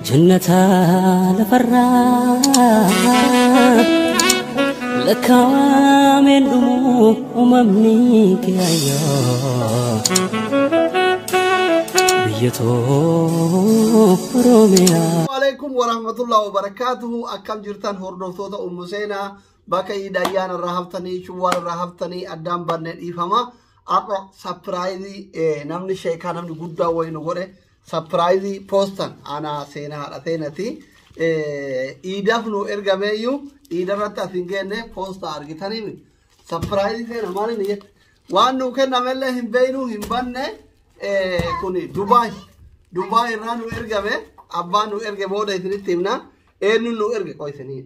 Jannata lafarraa lakkaawameen dhumu uumamni kiyaayoo biyya too Oromiyaa. Waalaikum warahmatullahi wabarakatuhu akkam jirtan hordoftoota ummu seenaa bakka iid ayyaana irraa haftanii shawwaal irraa haftanii addaan banne dhiifama har'a sapiraayizii namni sheekaa namni guddaa wayii nu godhe Sapiraayizii poostan anaa seenaa haadha seenati. Iidaf nu ergameeyyuu iidarratti as hin geenne poosta argitanii miti. Sapiraayizii seena maal inni jette? Waan nuu kennamellee hin beeknu hin banne kun Dubaay. Dubaay irraa nu ergame abbaan nu erge booda isinitti himna. Eenyuun nu erge qoy isinii.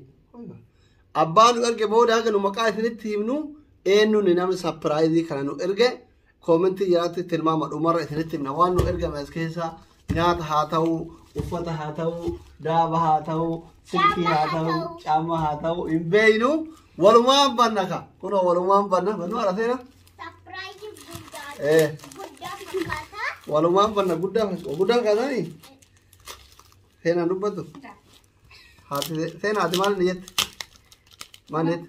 Abbaan nu erge booda haga nu maqaa isinitti himnu eenyuun namni sapiraayizii kana nu erge. Koomentii jalatti tilmaama dhumarra isinitti himna waan nu ergame as keessa nyaata haa ta'u, uffata haa ta'u, daaba haa ta'u, silkii haa ta'u, caammaa haa ta'u hin beeynu walumaan banna ka. Kunoo walumaan banna bannu ala seena. Sapiraayizii guddaa Eh. guddaa fakkaata. Walumaan banna guddaa fakkaata. Guddaa fakkaatanii? Seenaan dubbatu. Haati seenaa ati maal ni jette? Maal ni jette?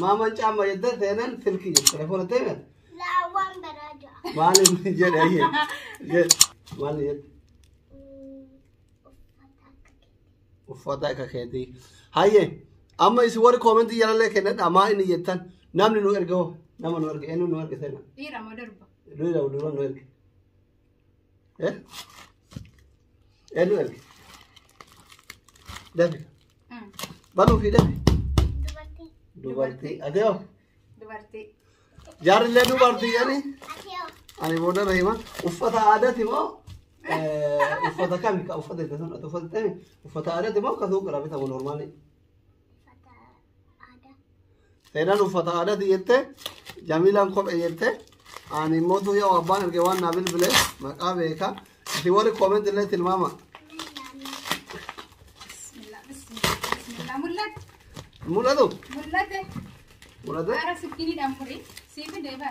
Maaman caamma jettee seenan silkii jedhe telefoona teemen. Laawwan baraa ja'a. Maal inni jedhe ayyee jedhe maal inni jedhe uffata akka keetii hayyee amma isin warri koomentii jalallee kennadha maa inni jettan namni nu erga hoo nama nu erge eenyu nu erge seena Dhiira moo durba? dhiira durba nu erge Eh? Eenyu erge? Dafi. Banuu fi dafi. Dubartii. Dubartii. Ati hoo? Dubartii. Jaarrillee dubartii jedhani. Ati hoo? Ani booda na hima. Uffata aadaati moo? eh, Uffata kami? Ka uffata itti sun ati uffata ta'e uffata aadaati moo ka suuqirraa bitamu normaali? Uffata. Aadaa. Seenaan uffata aadaati jette Jamiilaan kophee jette ani immoo tuu yoo abbaan erge waan naa bilbile maqaa beeka isin warri koomenti illee tilmaama Bismillah, bismillah, bismillah. Mul'ate, mul'atu mul'ate. mul'ate Bara sikkiniidhaan furii. Siif deebi'aadha.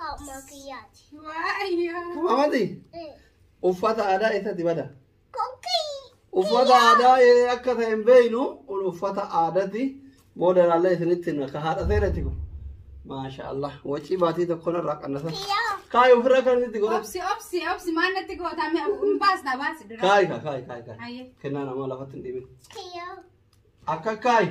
Kaa'umaa kiyyaati. Amati uffata aadaa eessatti bada? Kokkii. Uffata aadaa ee akka ta'e hin beeknu kun uffata aadaati. Booda ilaallee isinitti himna ka haadha seerati kun. Maasha Allah wacii baatii tokko narraa qannasa. Kiyyaa. Kaayi ofirraa kan itti godhatu. Obsi obsi obsi maal natti gootaa mee hin baasna baasi dura. Kaayi kaa kaayi kaayi kaayi. Ayyee. Kennaa namaa lafatti hin dhibin. Kiyyaa. Akka kaayi.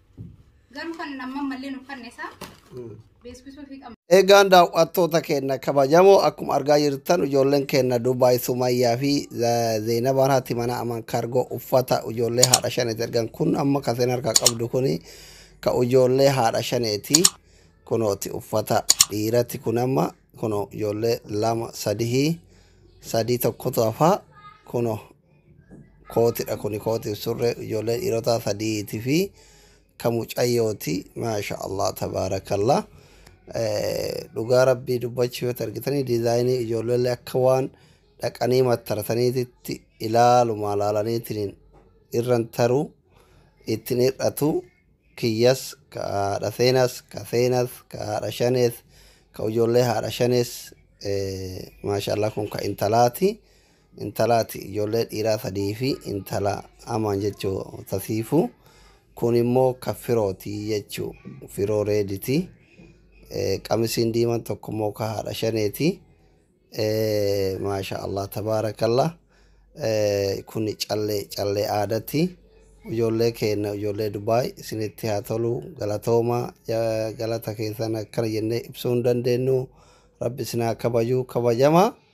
Garuu kan amma malleen uffanne isaa beeksisuu fi qabna. Eegaan daawwattoota keenya kabajamoo akkuma argaa jirtan ijoolleen keenya Dubaay Sumayyaa fi Zeenabaan haati mana aman kaargoo uffata ijoollee haadha shaneeti ergan kun amma kan seen harkaa qabdu kun ka ijoollee haadha shaneeti kunooti uffata dhiirati kun amma kuno ijoollee lama sadihii sadii tokkotu hafaa kuno kootidha kuni kootiif surree ijoollee dhiirotaa sadiiti fi ka mucayyooti maasha allah tabaarakallah Eh, dhugaa rabbii dubbachuu yoo argitanii diizaayinii ijoollee akka waan dhaqanii mattarataniititti ilaaluma laalaniitiin irran taruu ittiin hir'atu kiyyas ka haadha seenas ka seenas ka haadha shanees ka ijoollee haadha shanees eh, maasha allah kun ka intalaati. intalaati ijoollee dhiiraa sadii fi intala amaan jechuu tasiifu kun immoo ka firooti jechuu firoo reediti qamisiin diiman tokko immoo ka haadha shaneeti maasha allah tabaarakallah kun callee callee aadati ijoollee keenna ijoollee dubaay isinitti haa tolu galatooma galata keessan akkana jennee ibsuu hin dandeenyu rabbi isin haa kabaju kabajamaa